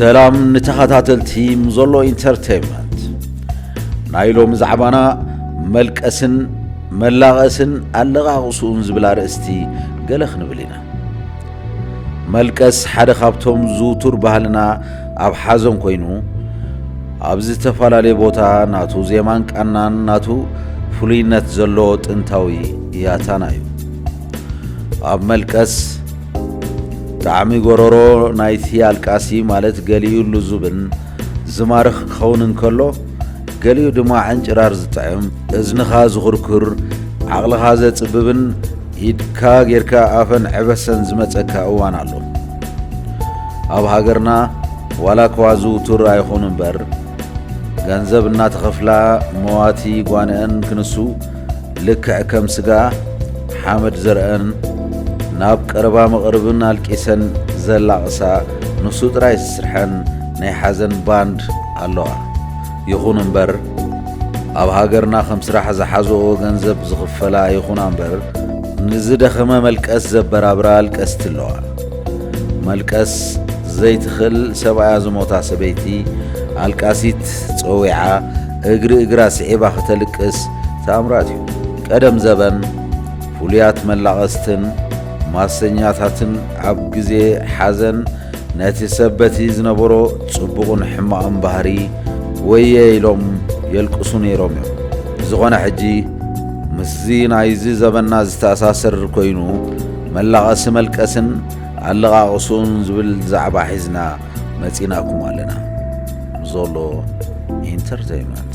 ሰላም ንተኸታተልቲ ምዞሎ ኢንተርተይንመንት ናይ ሎሚ ዛዕባና መልቀስን መላቐስን ኣለቓቕስኡን ዝብል ኣርእስቲ ገለ ክንብል ኢና መልቀስ ሓደ ካብቶም ዝውቱር ባህልና ኣብ ሓዘን ኮይኑ ኣብ ዝተፈላለየ ቦታ ናቱ ዜማን ቃናን ናቱ ፍሉይነት ዘለዎ ጥንታዊ ያታና እዩ። ኣብ መልቀስ ጣዕሚ ጎረሮ ናይቲ ኣልቃሲ ማለት ገሊኡ ልዙብን ዝማርኽ ክኸውን እንከሎ ገሊኡ ድማ ዕንጭራር ዝጥዕም እዝንኻ ዝኹርኩር ዓቕልኻ ዘጽብብን ኢድካ ጌርካ ኣፈን ዕበሰን ዝመጸካ እዋን ኣሎ። ኣብ ሃገርና ዋላኳ ዝውቱር ኣይኹን እምበር ገንዘብ እናተኸፍላ መዋቲ ጓንኤን ክንሱ ልክዕ ከም ስጋ ሓመድ ዘርኣን ናብ ቀረባ መቕርብን ኣልቂሰን ዘላቕሳ ንሱ ጥራይ ዝስርሐን ናይ ሓዘን ባንድ ኣለዋ። ይኹን እምበር ኣብ ሃገርና ከም ስራሕ ዝሓዘኦ ገንዘብ ዝኽፈላ ይኹና እምበር ንዝደኸመ መልቀስ ዘበራብራ ኣልቀስቲ ኣለዋ። መልቀስ ዘይትኽል ሰብኣያ ዝሞታ ሰበይቲ ኣልቃሲት ጸዊዓ እግሪ እግራ ስዒባ ክተልቅስ ተኣምራት እዩ። ቀደም ዘበን ፍሉያት መላቐስትን ማሰኛታትን ኣብ ግዜ ሓዘን ነቲ ሰብ በቲ ዝነበሮ ጽቡቕን ሕማቕን ባህሪ ወየ ኢሎም የልቅሱ ነይሮም እዮም። ብዝኾነ ሕጂ ምስዚ ናይዚ ዘበንና ዝተኣሳሰር ኮይኑ መላቐሲ መልቀስን ኣለቓቕሱን ዝብል ዛዕባ ሒዝና መጺእናኩም ኣለና። ዞሎ ኢንተርተይመንት።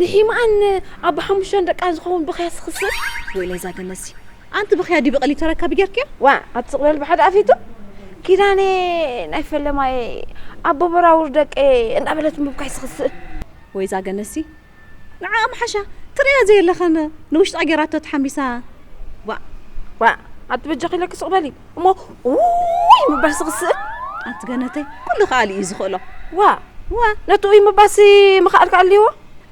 ንሒማኣን ኣቦ ሓሙሽተ ደቃን ዝኸውን ብኽያት ዝኽስብ ወይለይ እዛ ገነዝሲ ኣንቲ ብኽያ ዲቢ ቐሊብ ተረካቢ ጌርክያ ዋ ኣቲ ስቕ በል ብሓደ ኣፊቱ ኪዳኔ ናይ ፈለማየ ኣቦ በራውር ደቄ እንዳበለት ምብካይ ዝኽስእ ወይ እዛ ገነዝሲ ንዓኣ ምሓሻ ትርእያ ዘየለኸን ንውሽጣ ጌራቶ ተሓሚሳ ዋእ ዋእ ኣቲ በጃኺ ኢለኪ ስቕ በሊ እሞ ውይ ምባልሲ ክስእል ኣንቲ ገነተይ ኩሉ ከኣሊ እዩ ዝኽእሎ ዋ ዋ ነቲ ውይ ምባልሲ ምኽኣልኪ ኣልዎ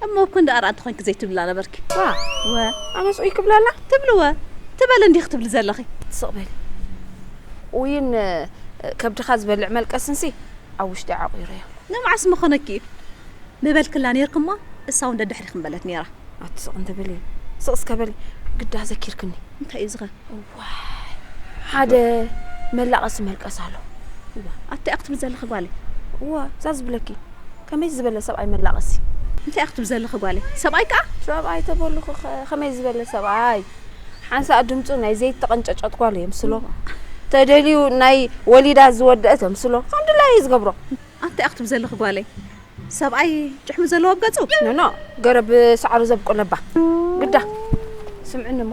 እሞ እኮ እንዳ ኣርኣንቲ ኮንኪ ዘይትብልላ ነበርኪ ዋ ወ ኣነስ ውይ ክብላላ ትብሊ ወ ትበል እንዲኺ ክትብሊ ዘለኺ ስቕ በሊ ውይን ከብድኻ ዝበልዕ መልቀስንሲ ኣብ ውሽጢ ዓቑረዮ ንመዓስ ምኾነኪ እዩ ምበልክላ ነይርክ እሞ እሳ እውን ደድሕሪኽ ምበለት ነይራ ኣቲ ስቕ እንትብሊ ስቕ እስከ በሊ ግዳ ዘኪርክኒ እንታይ እዩ ዝኸ ዋይ ሓደ መላቐሲ መልቀስ ኣሎ። እዋ ኣታ ኢያ ክትብሊ ዘለኺ ጓለይ። እዋ እዛ ዝብለኪ ከመይ ዝበለ ሰብኣይ መላቐሲ። እንታይ ኢያ ክትብሊ ዘለኺ ጓለይ ሰብኣይ ከኣ። ሰብኣይ ተበሉኺ ከ ከመይ ዝበለ ሰብኣይ። ሓንሳእ ድምጹ ናይ ዘይተቐንጨጨት ጓል የምስሎ ተደልዩ ናይ ወሊዳ ዝወደአት የምስሎ ከም ድላዩ እዩ ዝገብሮ። ኣታ ኢያ ክትብሊ ዘለኺ ጓለይ ሰብኣይ ጭሕሚ ዘለዎ ኣብ ገጹ። ኖኖ ገረብ ሳዕሪ ዘብቁለባ ግዳ። ስምዕኒ እሞ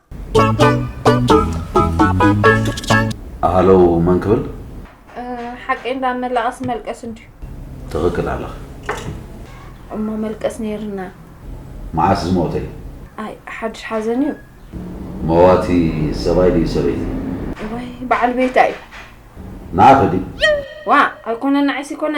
ሃሎ መን ክብል ሓቂ እንዳመላቐስ መልቀስ እንድዩ ትኽክል ኣለኽ እሞ መልቀስ ነይርና መዓስ ዝሞተ እዩ ኣይ ሓድሽ ሓዘን እዩ መዋቲ ሰብኣይ ድዩ ሰበይቲ ወይ በዓል ቤታ እዩ ንኣኸ ድዩ ዋ ኣይኮነን ንዓይሲ ኮነ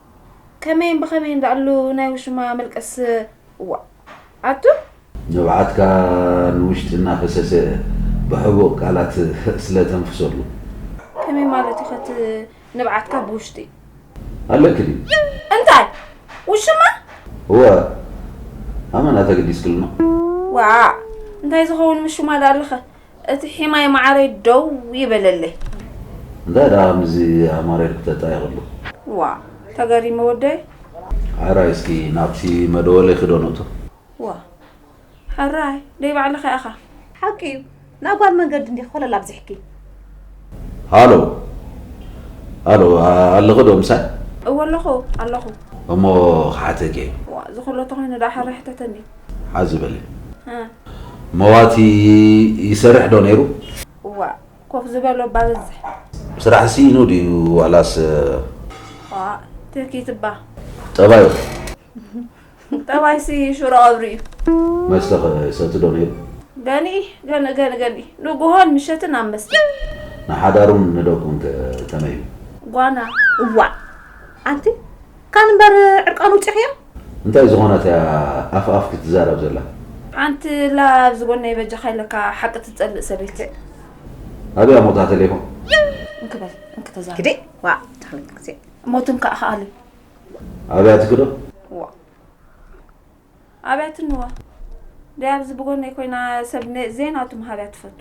ከመይን ብኸመይን ዳኣሉ ናይ ውሽማ መልቀስ ዋእ ኣቱ። ንብዓትካ ንውሽጢ እናፈሰሰ ብሕቡእ ቃላት ስለ ተንፍሰሉ። ከመይ ማለት ኢዩ ከ እቲ ንብዓትካ ብውሽጢ። ኣለኪ ድዩ? እንታይ ውሽማ? እወ ኣመና ተገዲስክልና። ዋእ እንታይ ዝኸውን ምሹማ ዳኣሉኸ። እቲ ሒማይ ማዓረይ ደው ይበለለይ። እንታይ ደኣ ከምዚ ኣማረ ኢልክተ ጣይ ክብሉ። ዋእ ተገሪመ ወደይ። ሐራይ እስኪ ናብቲ መደወሊኺ ዶ ንእቶ። ዋእ ሐራይ ደይ ባዕልኻ ኢኻ። ሓቂ እዩ ናይ ጓል መንገዲ እንዲኺ ኮለል ኣብዚሕኪ። ሃሎ ሃሎ ኣለኺ ዶ ምሳይ። እወ ኣለኹ ኣለኹ። እሞ ክሓተኪ እየ። ዋእ ዝኹሎ ተኾይኑ ደኣ ሐራይ ሕተተኒ። ሓዚ በሊ መዋቲ ይሰርሕ ዶ ነይሩ? እዋእ ኮፍ ዝበሎ እባ በዝሕ። ስራሕ ስኢኑ ድዩ ዋላስ? እዋእ ትህኪት እባ። ጠባዩ ከ? ጠባይሲ ሽሮ ቀብሪ እዩ። መስተ ከ ይሰቲ ዶ ነይሩ? ገንኢ ገንኢ ገንኢ ገንኢ ንጉሆን ምሸትን ኣብ መስተ። ንሓዳሩን ንደቁን ከ ከመይ እዩ? ጓና እዋእ ኣንቲ ካን እምበር ዕርቃኑ ውጺኽዮ? እንታይ ዝኾነት እያ ኣፍ ኣፍ ክትዛረብ ዘላ። ሓንቲ እላ ኣብዚ ጎነይ በጃካ ኢለካ ሓቂ ትጸልእ ሰበይቲ። ኣበይ ኣሞታ ተሌፎን። እንክ በል እንክ ተዛረብ። ግዲ ዋእ ታሕልክ ግዜ ሞትን ከኣ ከኣሊ ኣብያ ትክዶ። ዋእ ኣብያ ትንዋ ደይ ኣብዚ ብጎነይ ኮይና ሰብ ዜናቱ ምሃብያ ትፈቱ።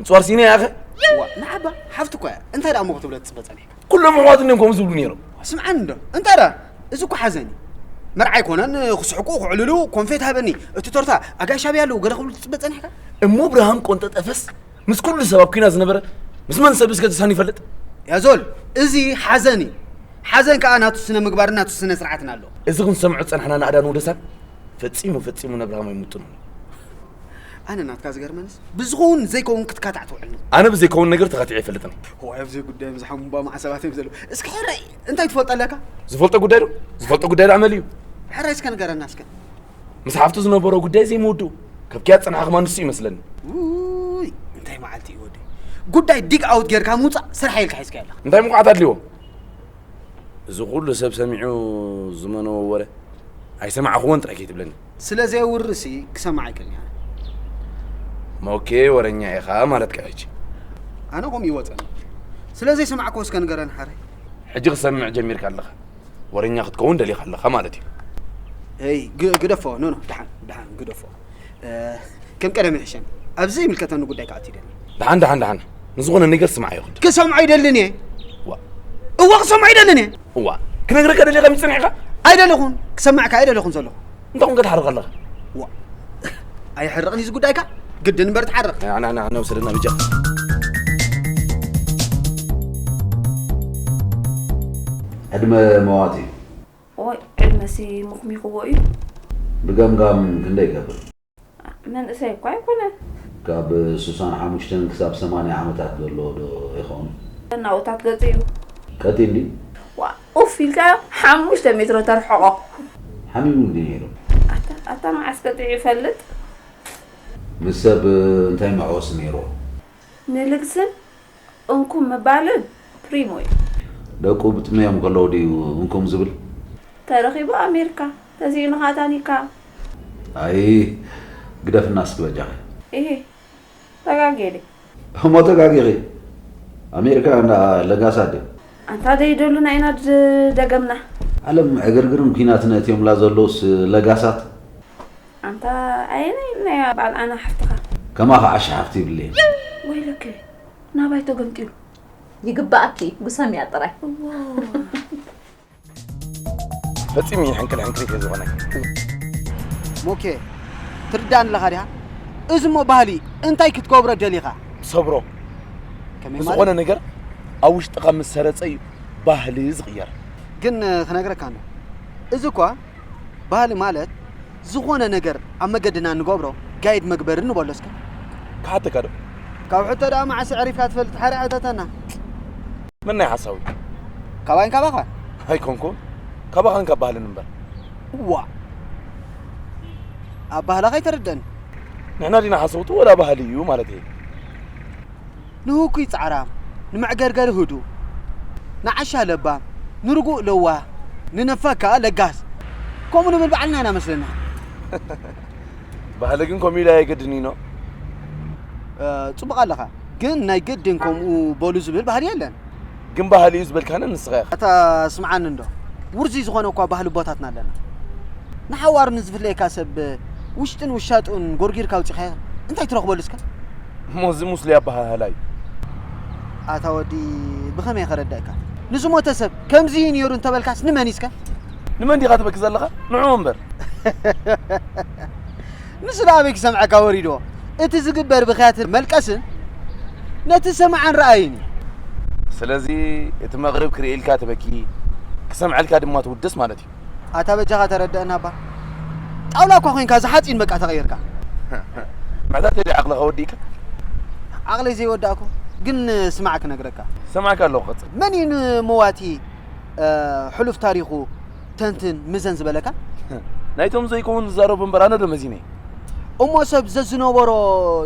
ንፅዋርሲኒ ያኸ ዋእ ንዓባ ሓፍቲ እኳ እያ እንታይ ደኣ እሞ ክትብለ ትፅበ ፀኒሕካ ኩሎም ኣሕዋት እንዲዮም ከምኡ ዝብሉ ነይሮም ስምዓኒ እንዶ እንታይ ደኣ እዚ እኮ ሓዘን እዩ መርዓ ኣይኮነን ክስሕቁ ክዕልሉ ኮንፌት ሃበኒ እቲ ቶርታ ኣጋይሽ ኣብያ ኣለዉ ገለ ክብሉ ትፅበ ፀኒሕካ እሞ ብርሃም ቆንጠ ጠፈስ ምስ ኩሉ ሰብ ኣብ ኩና ዝነበረ ምስ መን ሰብ እስከ ተሳኒ ይፈልጥ ያዞል እዚ ሓዘን እዩ ሓዘን ከዓ ናቱ ስነ ምግባርን ናቱ ስነ ስርዓትን ኣለዎ እዚ ክንሰምዖ ዝፀናሕና ንኣዳን ወደሳን ፈፂሙ ፈፂሙ ነብርሃም ኣይምጥኑን ኣነ ናትካ ዝገርመንስ ብዝኸውን ዘይከውን ክትካታዕ ትውዕል ነው። ኣነ ብዘይከውን ነገር ተኻቲዐ ኣይፈልጥን። ዋይ ኣብዚ ጉዳይ ምስ ሓሙባ መዓ ሰባት እዮም ዘለዉ። እስኪ ሕራይ እንታይ ትፈልጦ ኣለካ? ዝፈልጦ ጉዳይ ዶ ዝፈልጦ ጉዳይ ዶ ኣመል እዩ። ሕራይ እስከ ንገረና እስከ ምስ ሓፍቱ ዝነበሮ ጉዳይ ዘይምውድኡ ካብ ኪያ ዝፀናሕኹማ ንሱ ይመስለኒ። ውይ እንታይ መዓልቲ እዩ ወደይ። ጉዳይ ዲግ ኣውት ጌርካ ምውፃእ ስራሕ ኢልካ ሒዝካ ኣለካ። እንታይ ምቑዓት ኣድልዎ? እዚ ኩሉ ሰብ ሰሚዑ ዝመነዎ ወረ ኣይሰማዕኹዎን ጥራይ ከይትብለኒ። ስለ ዘየውሪ ሲ ክሰምዓ ኣይክእልንያ። ሞኬ ወረኛ ኢኻ ማለትካ ሕጂ። ኣነ ከምኡ ይወጸኒ ስለ ዘይሰማዕክዎ እስከ ንገረን ሓረይ። ሕጂ ክሰምዕ ጀሚርካ ኣለኻ ወረኛ ክትከውን ደሊኻ ኣለኻ ማለት እዩ። እይ ግደፎ ኖኖ ደሓን ደሓን ግደፎ ከም ቀደም ይሕሸኒ ኣብዚ ዘይምልከተኒ ጉዳይ ክኣቱ ይደሊ ደሓን ደሓን ደሓን ንዝኾነ ነገር ስምዓዮ ክንዲ ክሰምዖ ይደልን እየ እዋ ክሰምዖ ይደልን እየ እዋ ክነግረካ ደልየ ከመይ ጸኒሕካ ኣይደለኹን ክሰምዕ ከኣ ኣይደለኹን ዘለኹ እንታይ ኮንካ ትሓርቕ ኣለኻ ዋ ኣይሕርቕን እዩ ዝጉዳይካ ግድን እምበር ትሓርቕ ኣና ኣና ኣና ውሰደና ብጃኻ ዕድመ መዋቲ እዩ ወይ ዕድመ ሲ ምኹሚኹዎ እዩ ብገምጋም ክንደይ ይገብር መንእሰይ እኳ ኣይኮነን። ካብ ስሳን ሓሙሽተን ክሳብ ሰማንያ ዓመታት ዘሎ ዶ ይኸውን? ናውታት ገጹ እዩ። ቀጢን ድዩ? ዋእ! ኡፍ ኢልካዮ ሓሙሽተ ሜትሮ ተርሕቖ። ሓሚሙ ድዩ ነይሩ? ኣታ ኣታ መዓስ ቀጢዑ ይፈልጥ? ምስ ሰብ እንታይ መዕወሲ ነይርዎ? ንልግስን እንኩም ምባልን ፕሪሞ እዩ። ደቁ ብጥምዮም ከለዉ ድዩ እንኩም ዝብል። ተረኺቡ ኣሜርካ ተሲኢኑኻ ታኒካ። ኣይ ግደፍና እስኪ በጃኺ። ኢሂ ተጋግየ ድየ። እሞ ተጋጊኺ ኣሜርካ እንዳ ለጋሳ ድያ። ኣንታ ደይደሉና ኢና ደገምና። ዓለም ዕግርግርን ኩናትን ኣእትዮምላ ዘለዉስ ለጋሳት። ኣንታ ኣየናይ ኢልና ዩ ባዓል ኣና ሓፍትኻ። ከማኺ ዓሻ ሓፍቲ ይብለየን። ወይለከ ናባይ ተገምጢሉ። ይግበኣኪ እዩ ጉሰምያ ጥራይ። እዋይ። ፈጺሙ እዩ ሕንክል ሕንክሊት እዩ ዝኾነኪ። ሞኬ ትርዳኣኒ ኣለኻ ዲኻ እዚ እሞ ባህሊ እንታይ ክትገብሮ ደሊኻ። ሰብሮ ከመይ ማለት? ዝኾነ ነገር ኣብ ውሽጥኻ ምስ ሰረጸ እዩ ባህሊ ዝቕየር። ግን ክነግረካ እንዶ እዚ እኳ ባህሊ ማለት ዝኾነ ነገር ኣብ መገድና እንገብሮ ጋይድ መግበሪ ንበሎ እስከ። ክሓተካ ዶ? ካብ ሕቶ ደኣ መዓስ ኣዕሪፍካ ትፈልጥ ሓርያ ሕተተና። መናይ ሓሳዊ? ካባይን ካባኻን? ኣይኮንኩን ካባኻን ካብ ባህልን እምበር። ዋእ ኣብ ባህላኻ ኣይተረደእን። ንሕና ዲና ሓሰውቲ ወላ ባህሊ እዩ ማለተይ? ንህኩይ ጻዕራም ንመዕገርገሪ ህዱእ ንዓሻ ለባም ንርጉእ ለዋህ ንነፋግ ከኣ ለጋስ ከምኡ ንብል ባዕልና ኢና መስለና። ባህሊ ግን ከምኡ ኢሉ ኣየገድንዩኖ። ጽቡቕ ኣለኻ ግን ናይ ግድን ከምኡ በሉ ዝብል ባህሊ የለን። ግን ባህሊ'ዩ ዝበልካኒ ንስኻ ኢኻ። ኣታ ስምዓኒ እንዶ ውርዙይ ዝኾነ እኳ ባህሊ ኣቦታትና ኣለና። ንሓዋሩ ንዝፍለየካ ሰብ ውሽጥን ውሻጡን ጎርጊርካ ኣውጺኻዮ እንታይ ትረኽበሉ እስከ? እሞ እዚ ሙስሊ ኣበሃህላ'ዩ። ኣታ ወዲ ብኸመይ ከረድኣካ? ንዝሞተ ሰብ ከምዚ'ዩ ኔሩ እንተበልካስ ንመን'ዩ እስከ? ንመን ዲኻ ትበኪ ዘለኻ ንዕኡ እምበር። ንሱ ደኣ ኣበይ ክሰምዐካ ወሪድዎ እቲ ዝግበር ብኽያትን መልቀስን ነቲ ሰማዕን ረኣይን እዩ። ስለዚ እቲ መቕርብ ክርእየልካ ትበኪ ክሰምዐልካ ድማ ትውድስ ማለት እዩ። ኣታ በጃኻ ተረደኣና እባ ጣውላ እኳ ኮይንካ እዚ ሓጺን በቃ ተቐይርካ። መሕታተይ ድዩ ዓቕልኻ ወዲእካ? ዓቕለይ ዘይወዳእኩ ግን ስማዕ ክነግረካ። እሰምዐካ ኣለኹ ቀጽል። መን እዩ ንመዋቲ ሕሉፍ ታሪኹ ተንትን ምዘን ዝበለካ? ናይቶም ዘይከውን ዝዛረቡ እምበር ኣነ ዶ መዚነ? እሞ ሰብ ዘዝነበሮ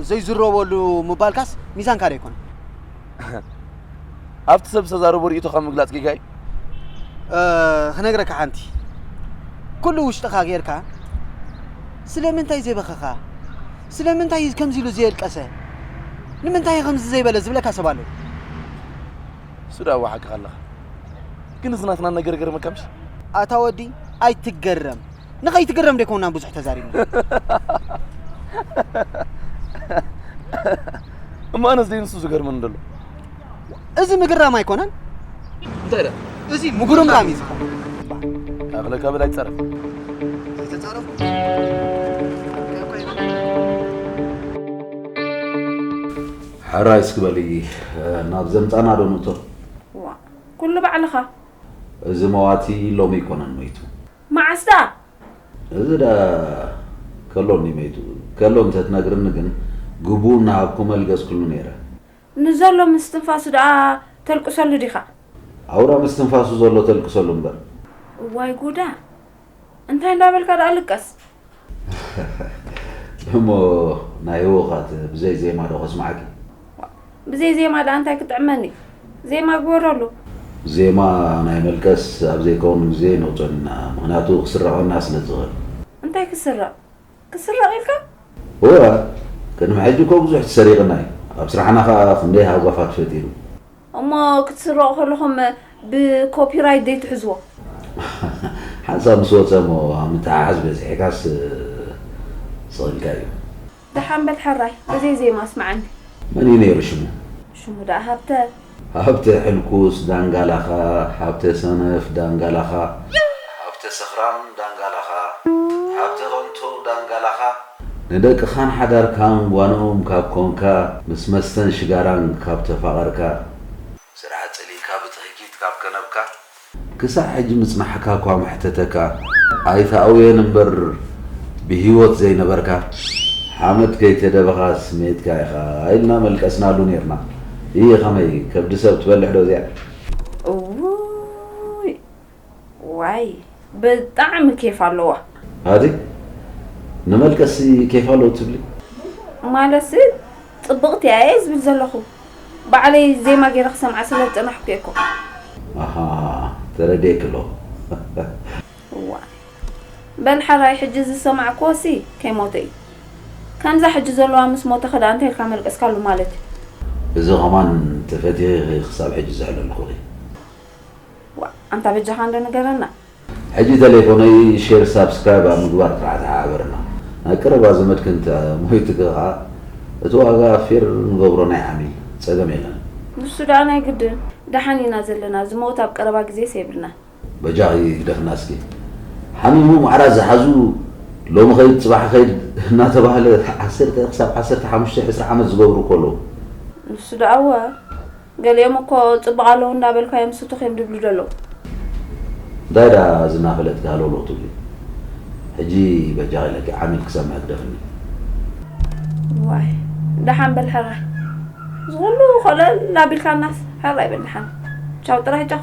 ዘይዝረበሉ ምባልካስ ሚዛንካ ዶ ኣይኮነን? ኣብቲ ሰብ ዝተዛረቦ ርእይቶኻ ምግላጽ ጌጋ እዩ? ክነግረካ ሓንቲ ኩሉ ውሽጥኻ ጌርካ ስለምንታይ ዘይበኸኻ ስለምንታይ ከምዚ ኢሉ ዘየልቀሰ ንምንታይ ከምዚ ዘይበለ ዝብለካ ሰብ ኣሎ እሱ ዳኣ እወ ሓቅኻ ኣለኻ ግን እዚ ናትና ነገር ይገርመካ ምሽ ኣታ ወዲ ኣይትገረም ንኸይትገረም ደይኮንና ብዙሕ ተዛሪብና እሞ ኣነስ ደይ ንሱ ዝገርመኒ ደሎ እዚ ምግራም ኣይኮነን እንታይ ዳ እዚ ምጉርምራም እዩ ዝኸውን ኣኽለ ከብል ኣይትፀረፍ ዘይተፃረፉ ሕራይ እስኪ በሊ ናብ ዘምጻና ዶ ንእቶ። ዋእ ኩሉ ባዕልኻ። እዚ መዋቲ ሎሚ ኣይኮነን መይቱ። መዓስ ደኣ? እዚ ደኣ ከሎ እንድዩ መይቱ። ከሎ እንተ ትነግርኒ ግን ግቡኡ እናሃብኩ መልገስክሉ ነይረ። ንዘሎ ምስ ትንፋሱ ደኣ ተልቅሰሉ ዲኻ? ኣውራ ምስ ትንፋሱ ዘሎ ተልቅሰሉ እምበር። እዋይ ጉዳ! እንታይ እንዳበልካ ደኣ ልቀስ እሞ ናይ ህወኻት ብዘይ ዜማ ዶ ከስማዓኪ ብዘይ ዜማ ደኣ እንታይ ክጥዕመኒ ዜማ ግበረሉ ዜማ ናይ መልቀስ ኣብ ዘይከውን ግዜ ነውፀሉ ኢና ምክንያቱ ክስረቀና ስለ ዝክእል እንታይ ክስረቅ ክትስረቕ ኢልካ? እወ ቅድሚ ሕጂ እኮ ብዙሕ ተሰሪቕና እዩ። ኣብ ስራሕና ከኣ ክንደይ ሃጓፋት ፈጢሩ። እሞ ክትስረቑ ከለኹም ብኮፒራይት ዘይትሕዝዎ? ሓንሳብ ምስ ወጸ እሞ ኣብ ምትሕሓዝ በጺሕካስ ስቕ ኢልካ እዩ። ደሓን በል ሕራይ ብዘይ ዜማ ኣስምዓኒ። መን እዩ ነይሩ ሽሙ? ሽሙ ደኣ ሃብተ። ሃብተ ሕልኩስ ዳንጋላኻ ሃብተ ሰነፍ ዳንጋላኻ ሃብተ ሰኽራም ዳንጋላኻ ሃብተ ከንቱ ዳንጋላኻ ንደቅኻን ሓዳርካን ጓኖም ካብ ኮንካ ምስ መስተን ሽጋራን ካብ ተፋቐርካ ስራሕ ጸሊእካ ብትህኪት ካብ ከነብካ። ክሳዕ ሕጂ ምጽናሕካ እኳ መሕተተካ ኣይትኣውዮን እምበር ብሂወት ዘይነበርካ ሓመድ ከይተደበኻ ስሜትካ ኢኻ ኢልና መልቀስናሉ ኔርና እይ ከመይ ከብዲ ሰብ ትበልሕ ዶ እዚኣ። እውይ ዋይ ብጣዕሚ ኬፍ ኣለዋ። ሃዲ ንመልቀሲ ኬፍ ኣለዉ ትብሊ። ማለትሲ ጽብቅቲ እያ እየ ዝብል ዘለኩ። ባዕለይ ዜማ ጌረ ክሰምዓ ስለ ዝጸናሕኩ እየ እኮ። ኣሃ ተረዲኤኪ ኣለኹ። እዋይ በል ሐራይ ሕጂ ዝሰማዕክዎ ሲ ከይሞተ እዩ ከምዛ ሕጂ ዘለዋ ምስ ሞተ ከዳኣ እንታይ ኢልካ መልቀስካሉ ማለት እዩ። እዚ ከማን ተፈቲኺ ኢኺ ክሳብ ሕጂ ዝሕለልኩኺ። ዋእ ኣንታ በጃኻ እንዶ ንገረና ሕጂ ተሌፎነይ ሼር ሳብስክራይብ ኣብ ምግባር ጥራሕ ተሓባበረና ናይ ቀረባ ዘመድኪ እንተ ሞይትኪ ከኣ እቲ ዋጋ ፌር ንገብሮ ናይ ዓሚል ጸገም የለን። ንሱ ደኣ ናይ ግድን ደሓን ኢና ዘለና ዝመውት ኣብ ቀረባ ግዜስ የብልናን። በጃኺ ግደፍና እስኪ ሓሚሙ ማዕራ ዝሓዙ ሎሚ ከይድ ጽባሕ ከይድ እናተባህለ ዓሰርተ ክሳብ ዓሰርተ ሓሙሽተ ዕስራ ዓመት ዝገብሩ እኮ ኣለዉ። ንሱ ደኣ እወ። ገሊኦም እኮ ጽቡቅ ኣለዉ እንዳ በልካዮም ስቱኽ እዮም ድብሉ ደለዉ። እንታይ ደኣ እዚ እናፈለጥኪ ሃለውለው ትብሊ ሕጂ በጃኺ ኢለኪ ዓሚል ክሰምዕ ህግደፍኒ። እዋይ ደሓን በል ሕራይ እዚ ኩሉ ኮለል ኣቢልካናስ ሕራይ በል ደሓን ቻው ጥራይ ቻው።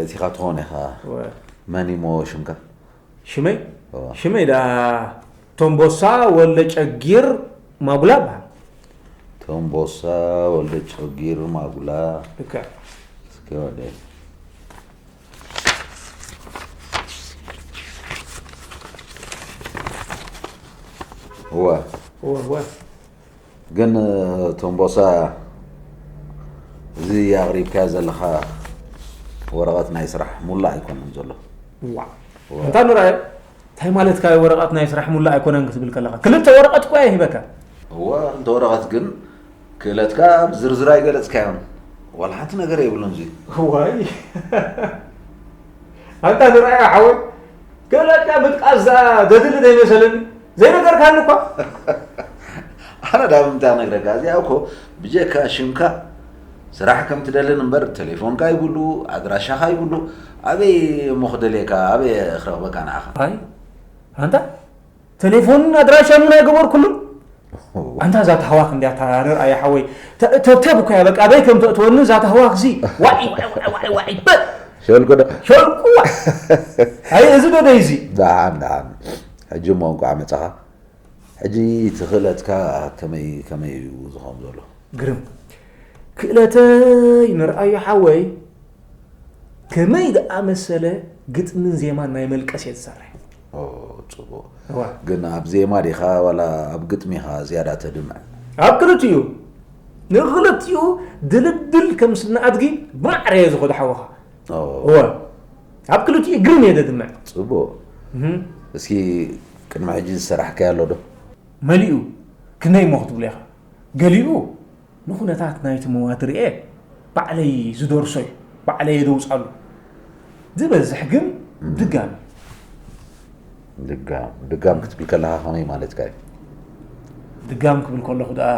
እቲኻ ትኾን ኢኻ መን እሞ ሽምካ ሽመይ ሽመይ ዳ ቶምቦሳ ወልደ ጨጊር ማጉላ በሃል ቶምቦሳ ወልደ ጨጊር ማጉላ እስከ ወደ እወ እወ ግን ቶምቦሳ እዚ ኣቕሪብካዮ ዘለኻ ወረቐት ናይ ስራሕ ሙላእ ኣይኮነን ዘሎ እንታ ንርኣዮ እንታይ ማለትካ እዩ ወረቐት ናይ ስራሕ ሙላእ ኣይኮነን ክትብል ከለኻ ክልተ ወረቐት እኳ ይህበካ እወ እንተ ወረቐት ግን ክእለትካ ብዝርዝር ኣይገለፅካዮን ዋላ ሓንቲ ነገር የብሉን እዚ ዋይ ኣንታ ንርኣዮ ሓወይ ክእለትካ ምጥቃስ ዘድሊ ዘይመሰለኒ ዘይነገርካኒ እኳ ኣነ ዳብ እንታይ ነግረካ እዚኣ እኮ ብጀካ ሽምካ ስራሕ ከም ትደልን እምበር ቴሌፎንካ ይብሉ ኣድራሻኻ ይብሉ ኣበይ እሞ ክደልየካ ኣበይ ክረኽበካ ንዓኻ ኣይ ኣንታ ቴሌፎን ኣድራሻ ምን ኣይገበርኩሉን ኣንታ እዛ ተህዋኽ እንዲያ ተራርር ኣያ ሓወይ ተብተብ እኮ እያ በቃ ኣበይ ከም ተእትወኒ እዛ ተህዋኽ ዚ ዋዒ ዋዒ ዋዒ ሸልኩ ዶ ሸልኩ ኣይ እዚ ዶ ደይ እዚ ደሓን ደሓን ሕጂ እሞ እንቋዕ መጻኻ ሕጂ እቲ ክእለትካ ከመይ ከመይ እዩ ዝኸውን ዘሎ? ግርም ክእለተይ ንርኣዮ ሓወይ ከመይ ዝኣመሰለ ግጥምን ዜማን ናይ መልቀስ እየ ዝሰርሕ ኦ ጽቡቕ እዋ ግን ኣብ ዜማ ዲኻ ዋላ ኣብ ግጥሚ ኢኻ ዝያዳ ተድምዕ? ኣብ ክልቲኡ ንኽልቲኡ ድልድል ከም ስነ ኣድጊ ብማዕረ እየ ዝኸዶ ሓወኻ ኦ እወ ኣብ ክልቲኡ ግርም እየ ደድምዕ። ጽቡቕ እስኪ ቅድሚ ሕጂ ዝሰራሕካዮ ኣሎ ዶ? መሊኡ ክንደይ እሞ ክትብሎ ኢኻ ገሊኡ ንኹነታት ናይቲ መዋቲ ርኤ ባዕለይ ዝደርሶ እዩ ባዕለየ ደውጻሉ ዝበዝሕ ግን ድጋም እዩ ድጋም ድጋም ክትብል ከለኻ ከመይ ማለትካ እዩ ድጋም ክብል ከለኹ ደኣ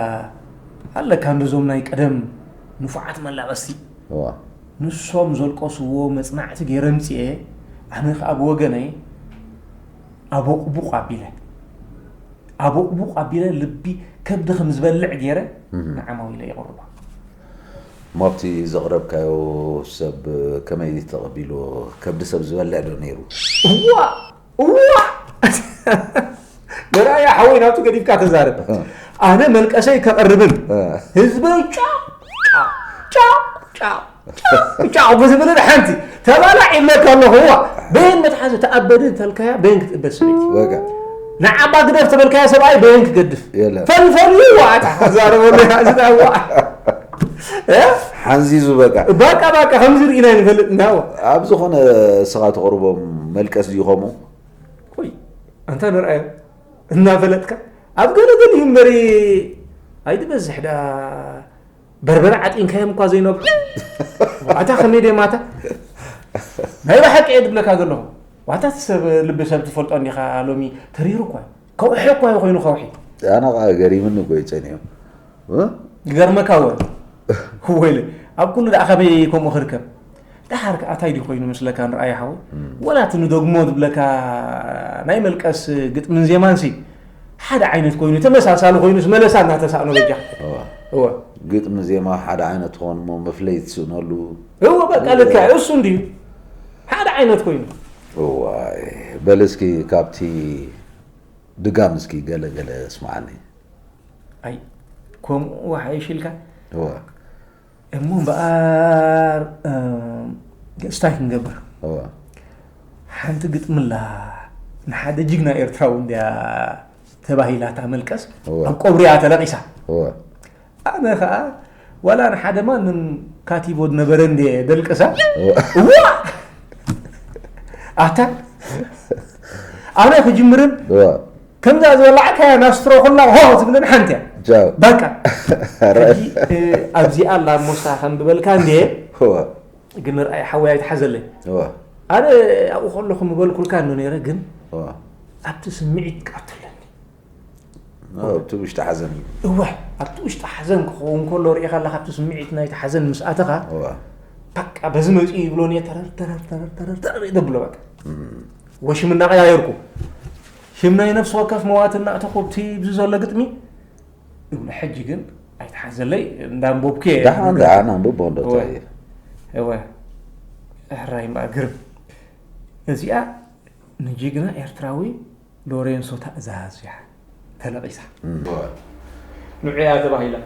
ኣለካ እንደዞም ናይ ቀደም ንፉዓት መላቐስቲ እዋ። ንሶም ዘልቀስዎ መጽናዕቲ ገይረ ኣምጺኤ ኣነ ከኣ ብወገነይ ኣቦቕቡቕ ኣቢለ ኣቦቕቡቕ ኣቢለ ልቢ ከብዲ ከም ዝበልዕ ገይረ ንዓማዊለይ የቕርቦ። እሞ ኣብቲ ዘቕረብካዮ ሰብ ከመይ ተቐቢልዎ? ከብዲ ሰብ ዝበልዕ ዶ ነይሩ? እዋእ! መርኣያ ሓወይ ናብቲ ገዲፍካ ተዛረብ ኣነ መልቀሰይ ከቕርብን ህዝበይ ጫ ጫ ጫ ጫ ብዝብልን ሓንቲ ተባላዕ ይብለካ ኣለኹ ዋ በየን መትሓዚ ተኣበድ እንተልካያ በየን ክትእበድ ሰበይቲ ንዓባ ግደፍ ተበልካያ ሰብኣይ በየን ክገድፍ ፈልፈልዩዋ ተዛረበሉ ሓንዚዙ በቃ ባቃ ባቃ ከምዚ ርኢና ይንፈልጥ እንዳዎ ኣብ ዝኾነ ስኻ ተቕርቦም መልቀስ ድዩ ከምኡ ቆይ ኣንታ ንርኣዮ እናፈለጥካ ኣብ ገለ ገለ እዩ እምበሪ ኣይትበዝሕ ዳ በርበረ ዓጢንካዮም እኳ ዘይነብዑ ዋታ ከመይ ደይ ማታ ናይ ብሓቂ እየ ድብለካ ዘለኹ ዋታ ሰብ ልቢ ሰብ ትፈልጦ እንዲኻ ሎሚ ተሪሩ እኳ ከውሒ እኮ እዩ ኮይኑ ከውሒ ኣነ ከዓ ገሪምኒ እኮ ይፀኒዮ ይገርመካ ወ ወይለ ኣብ ኩሉ ደኣ ከመይ ከምኡ ክርከብ ደሓር ከዓ እንታይ ድዩ ኮይኑ ምስለካ ንርኣያ ሓወይ ወላ እቲ ንደግሞ ዝብለካ ናይ መልቀስ ግጥምን ዜማን ሲ ሓደ ዓይነት ኮይኑ ተመሳሳሊ ኮይኑ ዝመለሳ እናተሳእኖ በጃ እወ ግጥሚ ዜማ ሓደ ዓይነት ትኾን እሞ መፍለይ ትስእነሉ እወ በቃ ልክዕ እሱ እንድዩ ሓደ ዓይነት ኮይኑ። እዋይ በል እስኪ ካብቲ ድጋም እስኪ ገለ ገለ እስማዓኒ። ኣይ ከምኡ ሓይሽ ኢልካ እወ እሞ እምበኣር እም፣ እስታይ ክንገብር እወ ሓንቲ ግጥምላ ንሓደ ጅግና ኤርትራዊ እንድያ ተባሂላ እታ መልቀስ እወ። ኣብ ቆብሪያ ተለቂሳ እወ ኣነ ከኣ ዋላ ንሓደ ማንም ካቲቦ ዝነበረ እንድየ ደልቅሳ እዋ ኣታ ኣነ ክጅምርን ከምዛ ዝበላዕካያ ናብ ስትሮ ኩላ ሆ ትብልን ሓንቲ እያ በቃ ሕጂ ኣብዚኣ ኣላ ሞሳ ከምብበልካ እንድየ ግን ርኣይ ሓወይ ኣይትሓዘለይ ኣነ ኣብኡ ከለኹ ምበልኩልካ ዶ ነይረ ግን ኣብቲ ስምዒት ቃትለኒ ኣብቲ ውሽጢ ሓዘን እዩ እወ ኣብቲ ውሽጢ ሓዘን ክኸውን ከሎ ርኢኻ ኣለካ ኣብቲ ስምዒት ናይቲ ሓዘን ምስ ኣተኻ በቃ በዚ መፅኡ ይብሎ እየ ተረር ተረር ተረር ተረር ተረር ይደብሎ በቃ ወሽም እናቀያየርኩ ሽም ናይ ነፍሲ ወከፍ መዋት እናእተኹ እቲ ብዚ ዘሎ ግጥሚ እብሎ ሕጂ ግን ኣይተሓዘለይ እንዳንቦብኩ እየ ደሓን ደሓን ኣንብቦ እንዶ እንታይ እዩ እወ ሕራይ እምበኣር ግርም እዚኣ ንጅግና ኤርትራዊ ሎሬንሶ ታእዛዝያ ተለቒሳ። ንዑ'ያ ተባሂላ።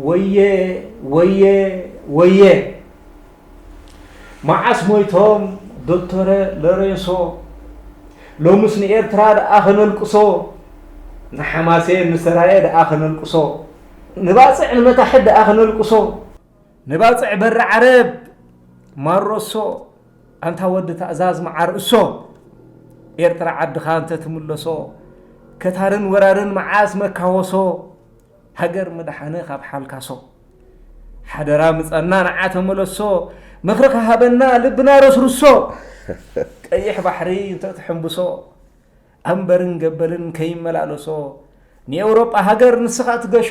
ወየ ወየ ወየ መዓስ ሞይቶም ዶክተረ ሎሬንሶ ሎምስ ንኤርትራ ደኣ ከነልቅሶ ንሓማሴን ንሰራየ ደኣ ከነልቅሶ ንባጽዕ ንመታሕት ደኣ ከነልቅሶ ንባጽዕ በሪ ዓረብ ማሮሶ ኣንታ ወዲ ታእዛዝ መዓር እሶ ኤርትራ ዓድኻ እንተ ትምለሶ ከታርን ወራርን መዓስ መካወሶ ሃገር ምድሓነ ካብ ሓልካሶ ሓደራ ምጸና ንዓ ተመለሶ ምኽርኻ ሃበና ልብና ረስርሶ ቀይሕ ባሕሪ እንተ ትሕንብሶ ኣንበርን ገበልን ከይመላለሶ ንኤውሮጳ ሃገር ንስኻ ትገሾ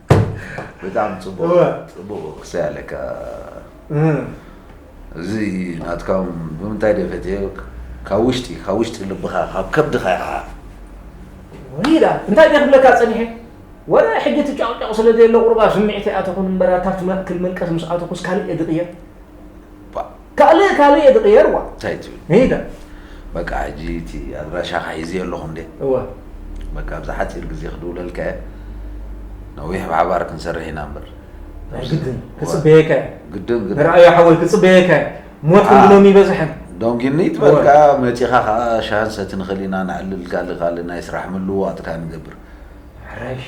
ብጣዕሚ ጽቡቕ እወ። ጽቡቕ ክሳይ ኣለካ እዚ ናትካ እውን ብምንታይ ደ ፈትዮ ካብ ውሽጢ ካብ ውሽጢ ልብኻ ካብ ከብድኻ ኢኻ ወይ ዳ እንታይ ደይ ክብለካ ጸኒሐ ወረ ሕጂ እቲ ጫቕጫቕ ስለ ዘየለ ቁሩብ ኣብ ስምዒተይ ኣተኹን እምበር ኣታ ኣብቲ ማእከል መልቀስ ምስ ኣተኹስ ካልእ እየ ድቕየር ባ ካልእ ካልእ እየ ዝቕየርዋ እንታይ ትብል ሜዳ በቃ ሕጂ እቲ ኣድራሻኻ ሒዘዮ ኣለኹ እንዴ እወ በቃ ኣብዚ ሓፂር ግዜ ክድውለልካ እየ ነዊሕ ብሓባር ክንሰርሕ ኢና እምበር ናይ ግድን ክፅበየካ እየ ግድን ግድን ንረኣዮ ሓወይ ክፅበየካ እየ ሞት ኣ። ክንዲ ሎሚ ይበዝሐን ዶንጊኒ እወ ትበልካ መፂኻ ከዓ ሻህን ሰቲ ንኽእል ኢና ነዕልል ካልእ ካልእ ናይ ስራሕ ምልውዋጥ ከዓ ንገብር ሕራይ እሺ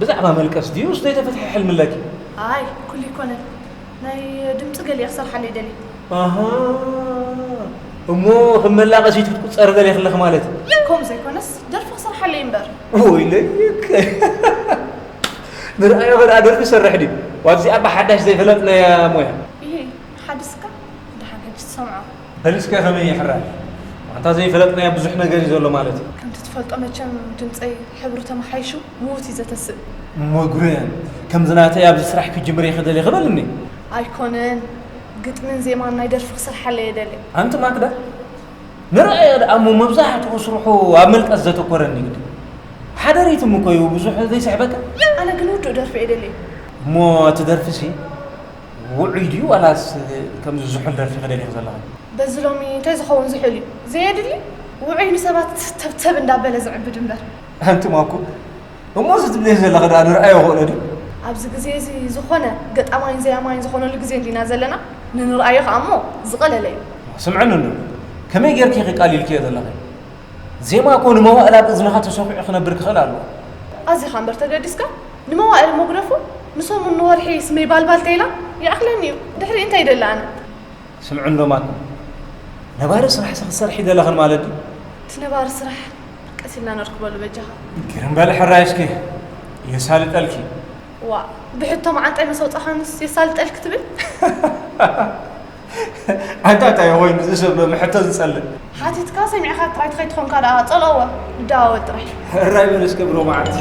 ብዛዕባ መልቀስ ድዩስ ዘይተፈትሐ ሕልምለኪ? ኣይ ኩሉ ኣይኮነን ናይ ድምጺ ገሊኣ ክሰርሓለይ ደልየ። ኣሃ እሞ ከም መላቐሲት ክትቁጸሪ ደሊኺ ኣለኺ ማለት እዩ። ከምኡ ዘይኮነስ ደርፊ ክሰርሓለይ እምበር። ወይለይከ ንርኣዮ ከድኣ ደርፊ ዝሰርሕ ድዩ ዋትዚኣ ብሓዳሽ ዘይፈለጥናያ ሞያ። ኢሂ ሓዲስካ ደሓን ሕጂ ትሰምዖ። ፐሊስከ ከመይ ይሕራይ ኣንታ ዘይፈለጥናዮ ብዙሕ ነገር እዩ ዘሎ ማለት እዩ። ከምቲ ትፈልጦ መቸም ድምጸይ ሕብሩ ተመሓይሹ ምዉት እዩ ዘተስእ። መጉረ ከምዚ ናተይ ኣብዚ ስራሕ ክጅምር ኢኺ ደሊኺ በልኒ። ኣይኮነን ግጥሚን ዜማን ናይ ደርፊ ክስርሓለይ እየ ደልየ። ኣንቲ ማክዳ ንርኣዮ ደኣ እሞ መብዛሕትኡ ስርሑ ኣብ ምልቀስ ዘተኮረ እንድዩ ግጥሚ። ሓደ ሪትም እኮ እዩ ብዙሕ ዘይስሕበካ። ኣነ ግን ውዱእ ደርፊ እየ ደልየ። እሞ እቲ ደርፊሲ ውዑይ ድዩ ዋላስ ከምዚ ዝሑል ደርፊ ክደልይኺ ዘለኺ? በዚ ሎሚ እንታይ ዝኸውን ዝሑል እዩ ዘየድሊ ውዑይ ንሰባት ተብተብ እንዳበለ ዝዕብድ እምበር። ኣንቲ ማኩ እሞ እዚ ትብልዮ ዘለኺ ድኣ ንርኣዮ ኾእሎ ድዩ? ኣብዚ ግዜ እዚ ዝኾነ ገጣማይን ዘያማይን ዝኾነሉ ግዜ እንዲና ዘለና ንንርኣዮ ኸኣ እሞ ዝቐለለ እዩ። ስምዕኒ እንዶ ከመይ ጌርኪ ኢኺ ቃሊልክዮ ዘለኺ? ዜማ እኮ ንመዋእል ኣብ እዝንኻ ተሰዂዑ ክነብር ክኽእል ኣለዎ። ኣዚኻ እምበር ተገዲስካ ንመዋእል መጉረፉ ንሰሙን ንወርሒ ስመይ ባልባል ተይላ ይኣኽለኒ እዩ ድሕሪኡ እንታይ ይደሊ ኣነ። ስምዑ እንዶ ማኩም ነባሪ ስራሕ ክትሰርሒ ይደለኽን ማለት ድዩ? እቲ ነባሪ ስራሕ ቀስ ኢልና ነርክበሉ በጃኻ። ግርም በሊ ሕራይስኪ የሳልጠልኪ። ዋእ ብሕቶ መዓንጣይ መሰውጻኻንስ የሳልጠልኪ ትብል። ኣንታ እንታይ እየ ኮይኑ እዚ ሰብ ሎሚ ሕቶ ዝጸልእ ሓቲትካ ሰሚዕካ ጥራይ ተኸይትኾንካ ደኣ ጸልኦወ ንደዋወል ጥራይ እራይ በል እስከ ብሎ መዓልቲ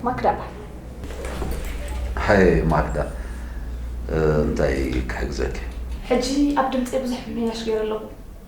ማክዳ ሓይ ማክዳ እንታይ ክሕግዘኪ ሕጂ ኣብ ድምፂ ብዙሕ ምምሕያሽ ገይረ ኣለኹ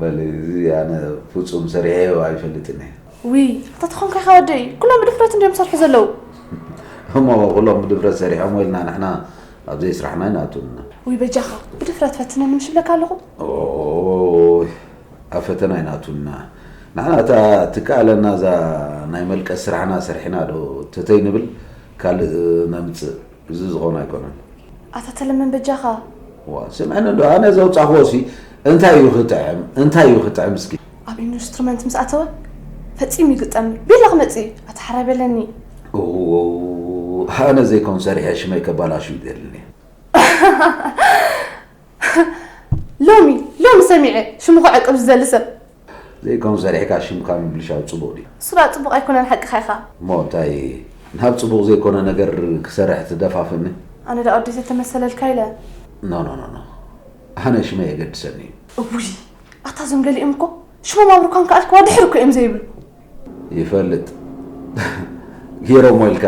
በል እዚ ኣነ ፍጹም ሰሪሐዮ ኣይፈልጥን እየ ውይ ኣታ ተኾንካ ኢኻ ወደይ ኩሎም ብድፍረት እንድዮም ዝሰርሑ ዘለዉ እሞ ኩሎም ብድፍረት ሰሪሖም ኢልና ንሕና ኣብ ዘይስራሕና ይናቱና ውይ በጃኻ ብድፍረት ፈትነኒ ምሽ ብለካ ኣለኹ ኣብ ፈተና ይናቱና ንሕና እታ ትከኣለና እዛ ናይ መልቀስ ስራሕና ሰርሕና ዶ ተተይ ንብል ካልእ ነምፅእ እዚ ዝኸውን ኣይኮነን። ኣታ ተለምን በጃኻ። እዋ ስምዕኒ እንዶ ኣነ ዘውጻእክዎሲ እንታይ እዩ ክጥዕም እንታይ እዩ ክጥዕም እስኪ። ኣብ ኢንስትሩመንት ምስ ኣተወ ፈጺሙ ይግጠምኒ ቤላ ክመጽእ እዩ ኣታ ሓራይ በለኒ። እውውውው ኣነ ዘይኮን ሰሪሐ ሽመይ ከባላሹ እዩ ደልኒ። ሎሚ ሎሚ ሰሚዐ ሽሙ ክዕቅብ ዝደሊ ሰብ ዘይከውን ሰሪሕካ ሽምካ ምብልሻው ጽቡቅ ድዩ? ስራቅ ጽቡቅ ኣይኮነን ሓቅኻ ኢኻ። እሞ እንታይ ናብ ጽቡቅ ዘይኮነ ነገር ክሰርሕ ትደፋፍእኒ? ኣነ ደኣ ወዲ ዘተመሰለልካ ኢለ። ኖኖኖኖ ኣነ ሽመይ የገድሰኒ እዩ። እውይ ኣታ እዞም ገሊኦም እኮ ሽሞም ኣብ ሩካን ከኣልክዋ ድሕር እኮ እዮም ዘይብሉ። ይፈልጥ ጌሮሞ ኢልካ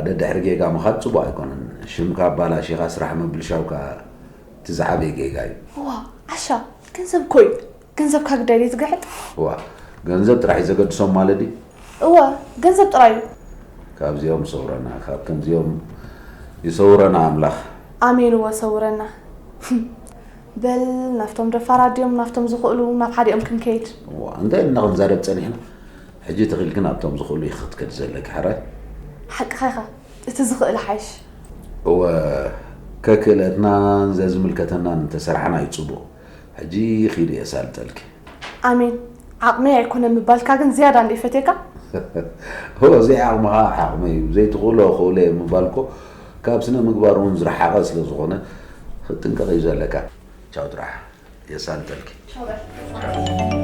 ደድሕሪ ጌጋ ምኻድ ጽቡቅ ኣይኮነን ሽምካ ኣባላሺኻ ስራሕ ምብልሻውካ እቲ ዝዓበየ ጌጋ እዩ። እዋ ዓሻ ገንዘብ እኮ እዩ ገንዘብ ካብ ደልዩ ዝግሕጥ እዋ ገንዘብ ጥራሕ እዩ ዘገድሶም ማለት ድዩ? እወ ገንዘብ ጥራይ እዩ። ካብዚኦም ይሰውረና ካብ ከምዚኦም ይሰውረና ኣምላኽ። ኣሜን እወ ሰውረና። በል ናብቶም ደፋራት ድዮም ናብቶም ዝኽእሉ ናብ ሓዲኦም ክንከይድ። እዋ እንታይ ኢልና ክንዛረብ ጸኒሕና ሕጂ ተኺኢልኪ ናብቶም ዝኽእሉ ኢኺ ክትከዲ ዘለኪ ሕራይ። ሓቅኻ ኢኻ እቲ ዝኽእል ይሓይሽ። እወ ከክእለትናን ዘዝምልከተናን እንተሰርሓና እዩ ጽቡቕ። ሕጂ ኺድ እየ ሳልጠልኪ። ኣሜን ዓቕመይ ኣይኮነን ምባልካ ግን ዝያዳ እንድየ ፈትየካ። እወ ዘይዓቕምኻ ዓቕመይ እዩ ዘይትኽእሎ እኽእሎ እየ ምባል እኮ ካብ ስነ ምግባር እውን ዝረሓቐ ስለ ዝኾነ ኽትጥንቀቕ እዩ ዘለካ። ቻው ጥራሕ የሳልጠልኪ። ቻው በል።